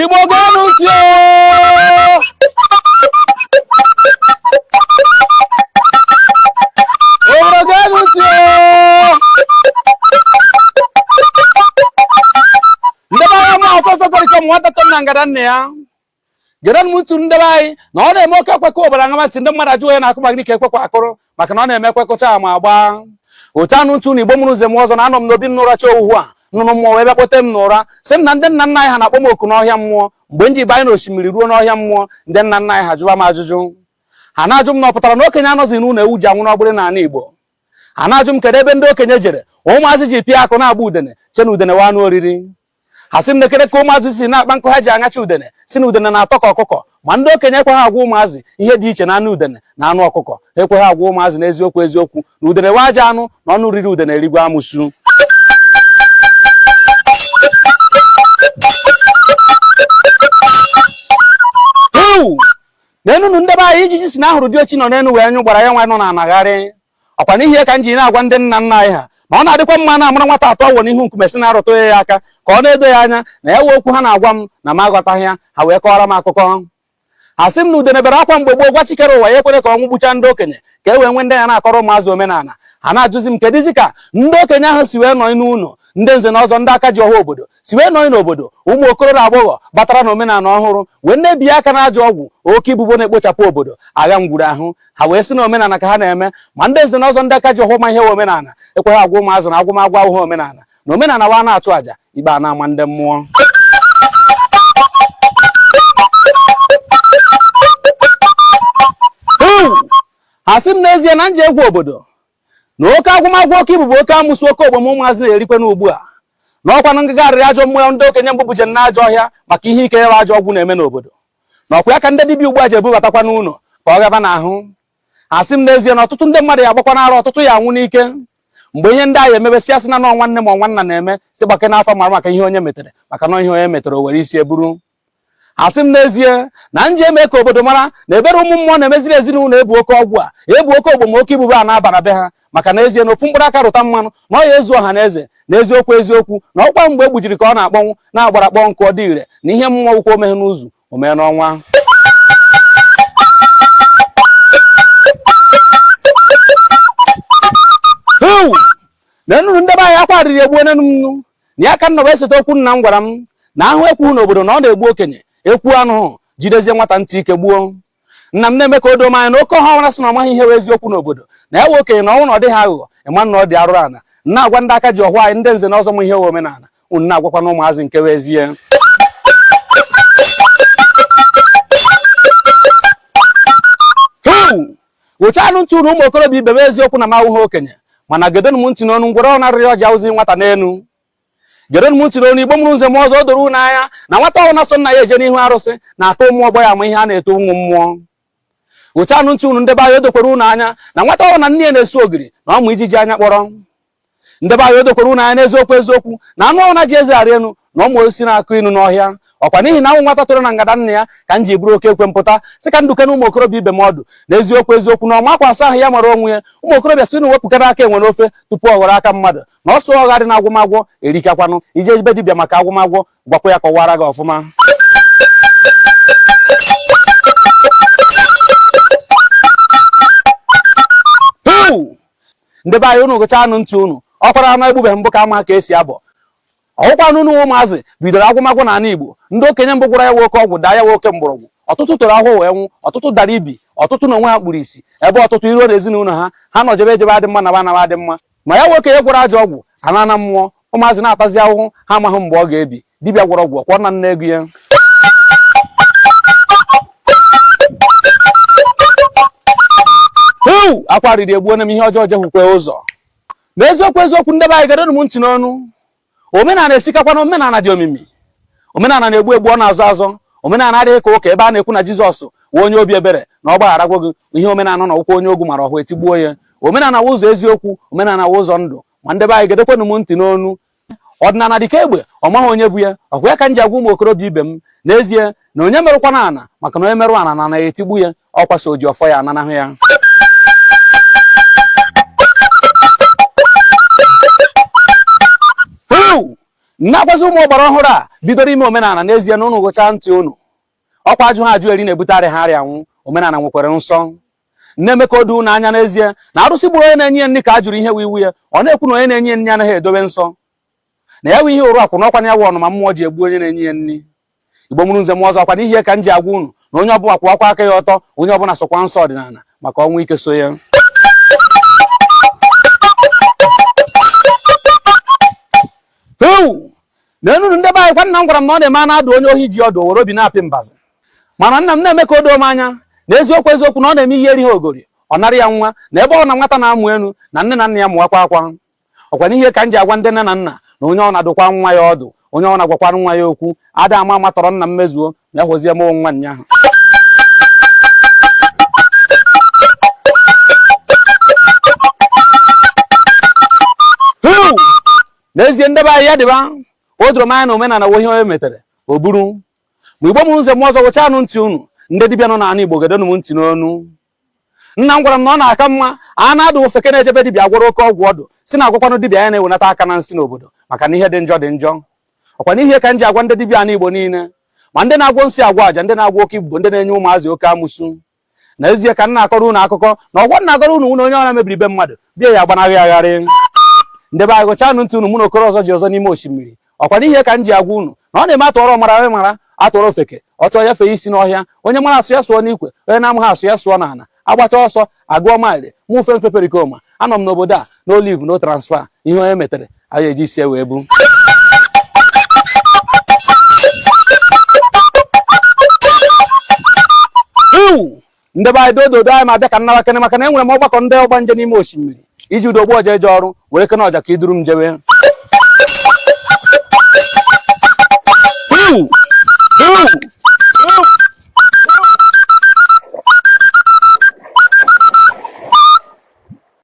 igbo geenụ ntị o igbo geenụ ntị ndị be anyị ma ọsọ ọsọ kwere ike ụmụ nwata tọ na ngada nne ya gerenụ m ntị ndebe anyị na ọ na-eme oke ekwe kụọ ọbara ṅama ntị ndị mmadụ ajụọ onye na-akụ ma gịnị ka ekwe kwa akụrụ maka na ọ na-eme ekwe kụchaa ma agba otu anụ ntụ na igbo mụrụ nze m ọzọ na anọ m n'obi m n'ụracha owuwu a nnụnụ mmụọ wee bịa kpọte m n'ụra sị m na ndị nna nna anyị ha na-akpọ m oku n'ọhịa mmụọ mgbe m ji banye n'osimiri ruo n'ọhịa mmụọ ndị nna nna anyị ha jụwa m ajụjụ ha na-ajụ m na ọ pụtara na okenye anọzi n'ụlọ ewu ji anwụ n'ọgbụrị n'ala igbo ha na-ajụ m kedu ebe ndị okenye jere ụmụazị ji pịa akụ na-agba udene che na udene wụ anụ oriri ha sị m nekere ka ụmụazị si na-akpa nkụ ha ji aṅacha udene sị na udene na-atọ ka ọkụkọ ma ndị okenye ekweghị agwa ụmụazị ihe dị iche na anụ udene na anụ ọkụkọ ekweghị agwa ụmụazị na eziokwu eziokwu na udene wụ ajọ anụ na ọnụ riri udene erigwe amụsu nenunu ndebe anyị ijiji sị na ahụrụ diochi nọ n'enu wee nyụọ gbara ya nwa nọ n'ana gharịị ọkwa n'ihi ya ka m ji na-agwa ndị nna nna anyị ha na ọ na-adịkwa mma na-amara nwata atụ ọ wụ n'ihu nkume si na-arụtụ ya aka ka ọ na-edo ya anya na ya wụ okwu ha na-agwa m na m aghọtaghị ya ha wee kọọrọ m akụkọ ha sị m na udene bere akwa mgbe gboo gwa chi kere ụwa ya ekwere ka ọnwụ gbucha ndị okenye ka e wee nwee ndị ya na-akọrọ ụmụazị omenala ha na-ajụzi m kedụzi ka ndị okenye ahụ si wee nọ n'ụlọ ndị nze na ọzọ ndị aka ji ọha obodo si wee nọ n'obodo ụmụ okoro na agbọghọ batara na omenala ọhụrụ wee na-ebi aka na ajọ ọgwụ oke ibubo na-ekpochapụ obodo agha ngwuru ahụ ha wee sị na omenala ka ha na-eme ma ndị nze na ọzọ ndị aka ji ọhọ ma ihe wụ omenala ekweghị agwa ụmụazị na agwụmagwụ awụghị omenala na omenala wụ na-achụ àjà ikpe a na-ama ndị mmụọ ha sị m n'ezie na m jee gwa obodo na oke agwụmagwụ oke ibubo oke amụsụ oke ogbom ụmụazị na-erikwe n'ugbu a na ọkwa na ngagharị ajọ mmụọ ndị okenye mbụ buje na ajọ ọhịa maka ihe ike ịwa ajọ ọgwụ na-eme n'obodo na ọkwa ya ka ndị dibịa ugbu a ji ebubatakwa n'ụlọ ka ọ gaba n'ahụ ha sị m n'ezie na ọtụtụ ndị mmadụ ya agbakwa n'ara ọtụtụ ya anwụ n'ike mgbe ihe ndị ahụ emebesịa sị na nọ nwanne ma nwanna na-eme sị gbake n'afa mara maka ihe onye metere maka na ihe onye metere o were isi eburu ha sị m n'ezie na m jee mee ka obodo mara na ebere ụmụ mmụọ na-emeziri ezinụlọ ebu oke ọgwụ a ebu oke ogbom oke ibubo a na-abara be ha maka n'ezie na ofu mkpụrụ aka rụta mmanụ na ọ ya ezu ọha na eze na eziokwu eziokwu na ọkwa mgbe e gbujiri ka ọ na-akpọnwụ na agbara kpọọ nkụ ọ dị ire na ihe mmụọ kwuru o meghị n'izu o mee n'ọnwa nenunu ndebe anyị akwa arịrị egbuo nenunu na ya ka nna wee seta okwu nna m gwara m na ahụ ekwu n'obodo na ọ na-egbu okenye ekwu anụhụ jidezie nwata ntị ike gbuo nna m na-eme ka o doo m anya na oke ọha ọra sị na ọ maghị ihe wụ eziokwu n'obodo na ya wụ okenye na ọnwụ na ọ dịghị aghụghọ ịma na ọ dị arụrụ ana na-agwa ndị aka ji ọfọ anyị ndị nze na ọzọ ma ihe wụ omenala unu na-agwakwanụ ụmụazị nke wụ ezie ghụchaanụ ntị unu ụmụ okorobịa ibe m eziokwu na m awụghị okenye mana gedonụ m ntị n'ọnụ ngwere ọ narịrị ọjị awụzi nwata n'elu gedonụ m ntị n'ọnụ igbo mụrụ nze mụọ ọzọ o doro unu anya na nwata ọhụ na-eso nna ya eje n'ihu arụsị na-aka ụmụ ọgbọ ya ama ihe a na-eto ụmụ mmụọ ghụchaanụ ntị unu ndebe anyị o dokwara unu anya na nwata ọhụ na nne ya na-esu ogiri na ọ ma ijiji anya kpọrọ ndebe anyị o dokwara unu anya n'eziokwu eziokwu na anụ ọhụ na-eji eze arị enu na ọ ma osisi na-akụ inu n'ọhịa ọkwa n'ihi na awụ m nwata toro na ngada nna ya ka m ji buru oke ekwe pụta sị ka m dụkenụ ụmụ okorobịa ibe m ọdụ n'eziokwu eziokwu na ọma akwa asa ahụ ya mara onwe ya ụmụ okorobịa sị unu wepụkwanụ aka enwe n'ofe tupu ọ ghọrọ aka mmadụ na ọsọ ọgha dị na agwọmagwọ erikakwanụ ije ebe dibịa maka agwọmagwọ gwakwa ya kọwara gị ọfụma ndị be anyị unu ghụchaanụ ntị unu ọ kwara anụ egbubeghị mbụ ka amaghị ka esi abọ ọ wụkwanụ unu ụmụazị bidoro agwọmagwọ n'ala Igbo ndị okenye mbụ gwọrọ ya wụ oke ọgwụ daa ya wụ oke mgbọrọgwụ ọtụtụ toro afọ wee nwụọ ọtụtụ dara ibi ọtụtụ na onwe ha kpuru isi ebe ọtụtụ i ruo na ezinụlọ ha ha nọ jebe ejebe adị mma na anaba adị mma ma ya wụ okenye gwọrọ ajọ ọgwụ anaana mmụọ ụmụazị na-atazi ahụhụ ha amaghị mgbe ọ ga-ebi dibịa gwọrọ ọgwụ ọkwọ na nne ego ya eu akwa riri egbuo na m ihe ọjọọ jekwukwe ụzọ na eziokwu eziokwu ndebe anyị gedonụ m ntị n'ọnụ omenala esikakwanụ omenala dị omimi omenala na-egbu egbu ọ na-azọ azọ omenala adịghị ka ụka ebe a na-ekwu na jizọs wụ onye obi ebere na ọ gbagharagwo gị ihe omenala na-ekwu onye ogu mara ọfọ etigbuo ya omenala wụ ụzọ eziokwu omenala wụ ụzọ ndụ ma ndebe anyị gedokwanụ m ntị n'ọnụ ọdịnala dịka egbe ọ maghị onye bu ya ọkwa ya ka m ji agwa ụmụ okorobịa ibe m n'ezie na onye merụkwana ana maka na onye merụ ana na ana ga-etigbu ya ọkwa sọ oji ọfọ ya ananahụ ya na-agwazi ụmụ ọgbara ọhụrụ a bidoro ime omenala n'ezie na unu ghụchaa ntị unu ọkwa ajụha ajụ eri na-ebute arịha arịa anwụ omenala nwekwara nsọ na-eme ka o doo unu anya n'ezie na arụsị gburu onye na-enye ya nri ka a jụrụ ihe wụ iwu ya ọ na-ekwu na onye na-enye ya nri anaghị edobe nsọ na ya bụ ihe ụrụ akwụ n'ọkwa na ya wụ ọnụma mmụọ ji egbu onye na-enye ya nri igbo mụrụ nze mụọ ọzọ ọkwa n'ihi ya ka m ji agwa unu na onye ọbụla kwụwakwa aka ya ọtọ onye ọbụla sọkwa nsọ ọdịnala maka ọnwụ ike so ya na enunu ndị be anyị kwa nna m gwara m na ọ na-eme a na-adụ onye ohi ji ọdụ were obi na-apị mbazụ mana nna m na-eme ka o doo m anya na eziokwu eziokwu na ọ na-eme ihe erighị ogori ọ nara ya nwa na ebe ọ na nwata na-amụ enu na nne na nna ya mụwakwa akwa ọkwa n'ihe ka m ji agwa ndị nne na nna na onye ọ na-adụkwa nwa ya ọdụ onye ọ na-agwakwara nwa ya okwu ada ama ama tọrọ nna m mezuo na ya hụzie mụọ nwa nya ahụ n'ezie ndebe anyị ya dịba o doro m anya na omenala wụ ihe onye metere o buru ma igbo mụrụ nze na ọzọ gụchanụ ntị unu ndị dibịa nọ n'ala igbo gedonụ m ntị n'ọnụ nna m gwara m na ọ na-aka mma a na-adụ ofeke na-eje be dibịa agwọrọ oke ọgwụ ọdụ sị na-agwakwanụ dibịa ya na-ewenata aka na nsị n'obodo maka na ihe dị njọ dị njọ ọkwa n'ihe ka m ji agwa ndị dibịa ala igbo niile ma ndị na-agwọ nsị agwọ aja ndị na-agwọ oke ibubo ndị na-enye ụmụazị oke amụsụ na ezie ka m na-akọrọ unu akụkọ na ọgwọ m na-akọrọ unu wụ na onye ọ na mebiri be mmadụ bịa ya agbanarị agharị ndebe anyị gụchanụ ntị unu mụ na okoro ọzọ ji ọzọ n'ime osimiri ọkwa n'ihe ka m ji agwa unu na ọ na-eme a tụọrọ ọmara ọ mara a tụọrọ ofeke ọ chọọ ya fee isi n'ọhịa onye mara asụ ya sụọ n'ikwe onye na-amaghị asụ ya sụọ n'ala a gbachaa ọsọ a gụọ maịlị mụ ufe mfe perikoma anọ m n'obodo a no leave no transfer ihe onye metere anyị eji isi e wee bu ndị be anyị dododo anyị ma bịa ka m nawakene maka na enwere m ọgbakọ ndị ọgbanje n'ime osimiri iji udo ogbu ọja eje ọrụ werekene ọja ka i duru m jewe